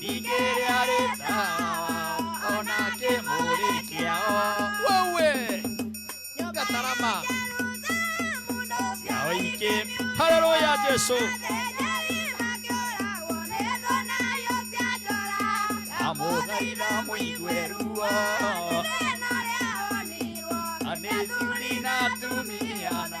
ningĩ arĩ tawa ona kĩmũrĩ kĩao wewe gatarama yao ingĩ haleluya jesu amũthaitha mũigue ruo anĩ thuri na atumia na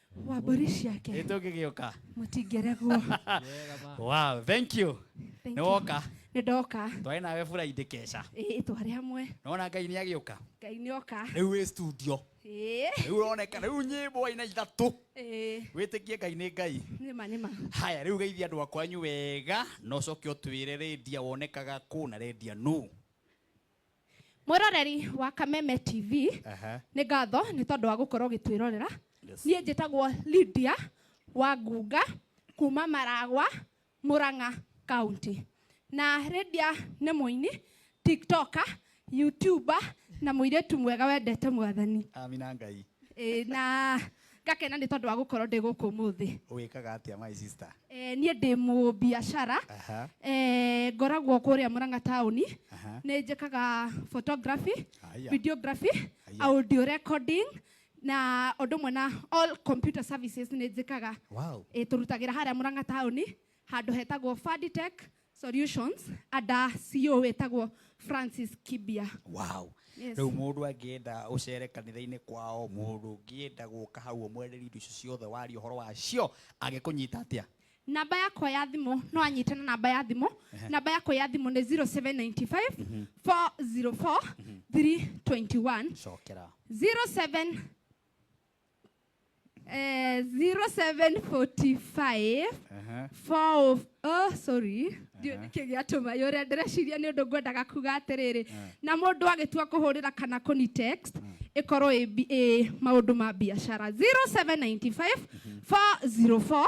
wa mbũri ciake ĩtũ ngĩgĩũka mũtingĩregwo wow thank you Thank nĩ you. woka nĩ ndoka twarĩ nawe buraindĩ keca ĩĩ twarĩ hamwe nona ngai nĩ agĩũka ngai nĩ oka rĩu wĩ studio ĩĩ rĩu ũroneka rĩu nyĩmbo aina ithatũ ĩĩ wĩtĩkie ngai nĩ ngai nĩma nĩma haya rĩu geithia andũ akwanyu wega na ũcoke ũtwĩre rĩndia wonekaga kũ na rĩndia nũ mwĩroreri wa kameme tv Aha. nĩ ngatho nĩ tondũ wa gũkorwo ũgĩtwĩrorera Yes. niĩ njĩtagwo lydia wa ngunga kuma maragwa mũrang'a kaunti na lydia nĩ mũini tiktoka youtuba na mũirĩtu mwega wendete mwathani amina ngai Ĩĩ, na ngakena nĩ tondũ wa gũkorwo ndĩ gũkũ ũmũthĩ wĩkaga atĩa my sister Eh, niĩ ndĩ mũbiacara Aha. Eh, ngoragwo kũrĩa mũrang'a taũni Aha. nĩ njĩkaga photography Aya. videography Aya. audio recording na ũndũ ũmwe na all computer services nĩ njĩkaga Wow. Eh, tũrutagĩra harĩa mũrang'a taũni handũ hetagwo faditech solutions ada CEO wĩtagwo Francis Kibia wow Yes. rĩu mũndũ angĩenda ũcere kanitha-inĩ kwao mũndũ ũngĩenda gũka hau ũmwereri indo icio ciothe waria ũhoro wacio angĩkũnyita atĩa namba yakwa ya thimũ no anyite na namba ya thimũ namba yakwa ya thimũ nĩ 0795 404 321 cokera 07 Eh, 0745 Aha. four of- oh, sorry Ndiũ- nĩkĩ gĩatũma yũrĩa ndĩreciria nĩ ũndũ ngwendaga kuga atĩrĩrĩ na mũndũ agĩtua kũhũrĩra kana kũni text ĩkorwo ĩ bi- ĩ maũndũ ma biacara 0795 404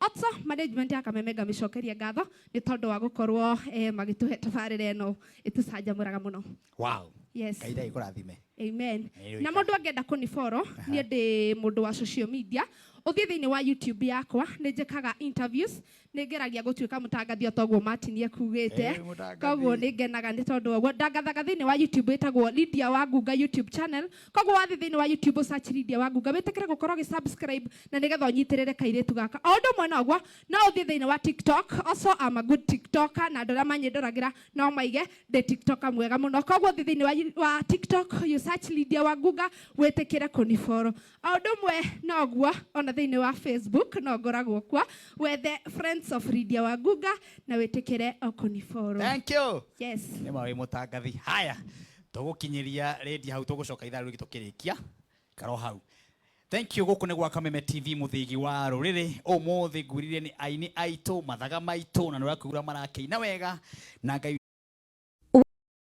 Otsa management ya Kamemega mĩcokerie ngatho nĩ tondũ wa gũkorwo eh, magĩtũhe tabarĩra ĩno ĩtũcanjamũraga mũno wow yes ngai ndagä kå rathime amen Nĩ na mũndũ angĩenda kũniboro niĩ ndĩ mũndũ wa social media ũthiĩ thĩinĩ wa youtube yakwa nĩ njĩkaga interviews nĩ ngeragia gũtuĩka mũtangathi o toguo matinie kugĩte Eh, mũtangathi. koguo nĩ ngenaga nĩ tondũ wa ũguo ndangathaga thĩinĩ wa youtube ĩtagwo lydia wa ngunga youtube channel koguo wathiĩ thĩinĩ wa youtube ũsearch Lydia Wangunga wĩtĩkĩre gũkorwo ũgĩ-subscribe na nĩgetha ũnyitĩrĩre kairĩtu gaka o ũndũ ũmwe noguo no ũthiĩ thĩinĩ wa tiktok also am a good tiktoker na andũ arĩa manyĩndoragĩra no maige ndĩ tiktoker mwega mũno koguo thiĩ thĩinĩ wa, you- wa tiktok you search Lydia Wangunga wĩtĩkĩre kũniboro o ũndũ ũmwe noguo ona thĩinĩ wa facebook no ngoragwo kuo wethe friends of Lydia Wangunga na wĩtĩkĩre o kũniboro Thank you. yes nä ma wä må tangathi haya tũgũkinyĩria rĩndia hau tũgũcoka ithaa rĩngĩ tũkĩrĩkia karo hau thank you gũkũ nĩ gwa kameme tv mũthĩgi wa rũrĩrĩ ũmũthĩ ngwirire nĩ aini aitũ mathaga maitũ na nĩ ũrakuura marakĩina wega na ngai